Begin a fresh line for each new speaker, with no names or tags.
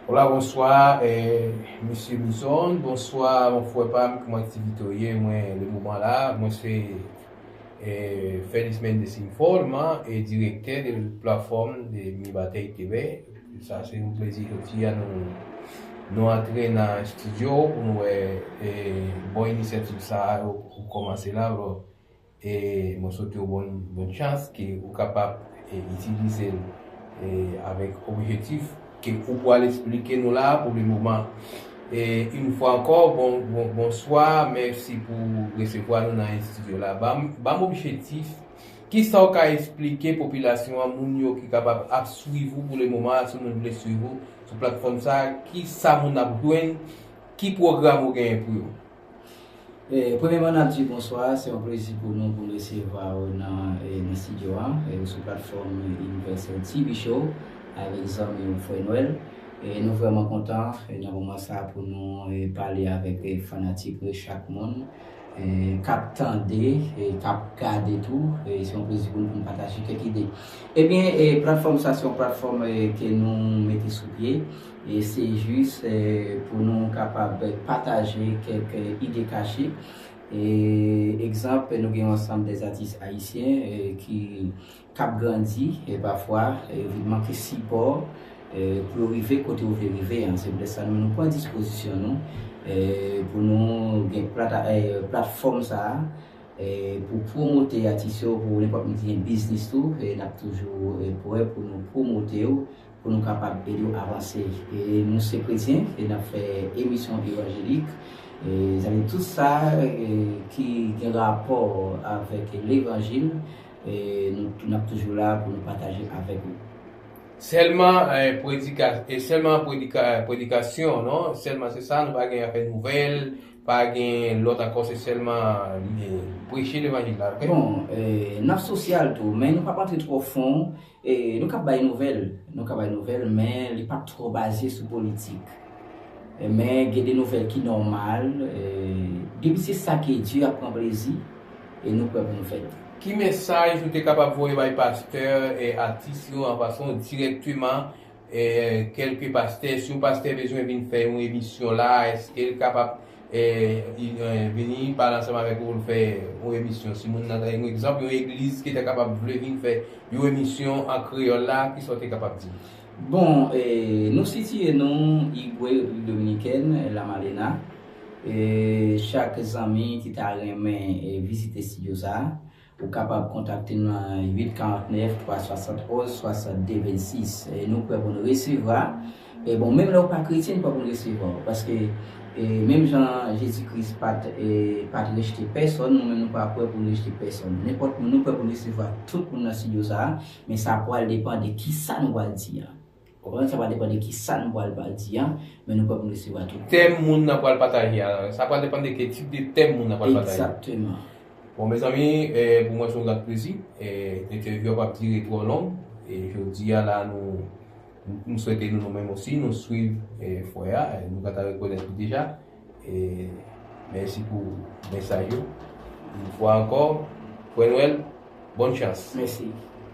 Hola bonswa Mesye Bison bonswa mon frè pam kman aktivite w ye mwen le moman la mwen se Feliz Mendez Informa e direktè de platfòm de Mibateik Kebek sa se yon plezi jodi a nou antre nan estidyo w pou nou wè bon inisyativ sa a ou kòmanse la. E mwen swete w bon bon chans ke ou kapab itilize l avèk objetif ke ou pwal esplike nou la pou le moman. E yn fwa ankò bon bon bonswa, mèsi pou resevwa nou nan estidyo la. Banm banm objetif, kisa w ka esplike popilasyon an, moun yo ki kapab ap swiv ou pou le moman a, si moun vle swiv ou sou platfòm sa, kisa moun ap jwenn, ki pwogram ou genyen pou yo?
Premyèman nap di bonswa, se yon plezi pou nou pou nou resevwa ou nan studio a sou platfòm Universel TV show avèk zanmi ou frè Nwèl. Nou vrèman kontan nan moman sa pou nou pale avèk fanatik chak moun kap tande, kap gade tou, se yon plezi pou nou pou nou pataje kèk ide. Ebyen platfòm sa se yon platfòm ke nou mete sou pye E se jis pou nou kapab pataje kèk ide kache. Egzanp, nou gen yon ansanm de atis ayisyen ki k ap grandi e pafwa yo vin manke sipò pou yo rive kote yo vle rive an. Se poutèt sa nou pran dispozisyon nou pou nou gen platfòm sa a pou pwomote atis yo. Pou nenpòt moun ki gen biznis tou, n ap toujou pre pou nou pwomote yo. pou nou kapab ede w avanse e nou se kretyen e nap fè emisyon evanjelik e zanmi tout sa ki gen rapò avèk levanjil e nou nap toujou la pou nou pataje avèk ou.
Sèlman predikasyon non sèlman se sa nou pa gen afè nouvèl pa gen lòt ankò se sèlman preche levanjil la ok. Bon nap
sosyal tou men nou pap antre twò fon Nou ka bay nouvèl, nou ka bay nouvèl men li pap twò baze sou politik. Men gen de nouvèl ki nòmal, depi se sa ke Dye ap pran plezi e nou prè pou nou fè l. Ki mesaj
ou te kapab voye bay pastè e atis yo an pasan dirèkteman? kelke pastè si yon pastè bezwen vin fè yon emisyon la eskel kapab vini pale ansanm avèk ou poul fè yon emisyon si moun nan yon egzanp yon egliz ki ta kapab vle vin fè yon emisyon an kreyòl la kisa ou te kapab di li. Bon
nou sitiye nou Igwe Repiblik Dominikèn La Malena chak zanmi ki ta renmen vizite stidyo sa Ou kapab kontakte m nan 8 49 371 62 26 nou prè pou n resevra bon menm lè ou pa kretyen n prè pou n resevwa w paske menm jan Jezi Kris pat pat rejte pèsòn nou menm nou pa prè pou n rejte pèsòn nenpòt moun nou prè pou n resevwa tout moun nan studio sa men sa pwal depan de kisa nou pwal di an. Konprann sa pral depan de ki sa nou pral pa di an, men nou kwè pou n resevwa tout. Tèm moun nan pral
pataje a. Sa pral depan de ke tip de tèm moun nan pral pataje. Egzakteman.
Bon mezanmi,
pou mwen se yon grat plezi. Entèvyou a pap dire twò long. E jodi a la nou, m swete nou nou menm osi nou swiv fwè a. Nou pa ta rekonèt li deja. E mèsi pou mesaj yo. Yon fwa ankò, Pwè
Nwèl,
bòn chans. Mèsi.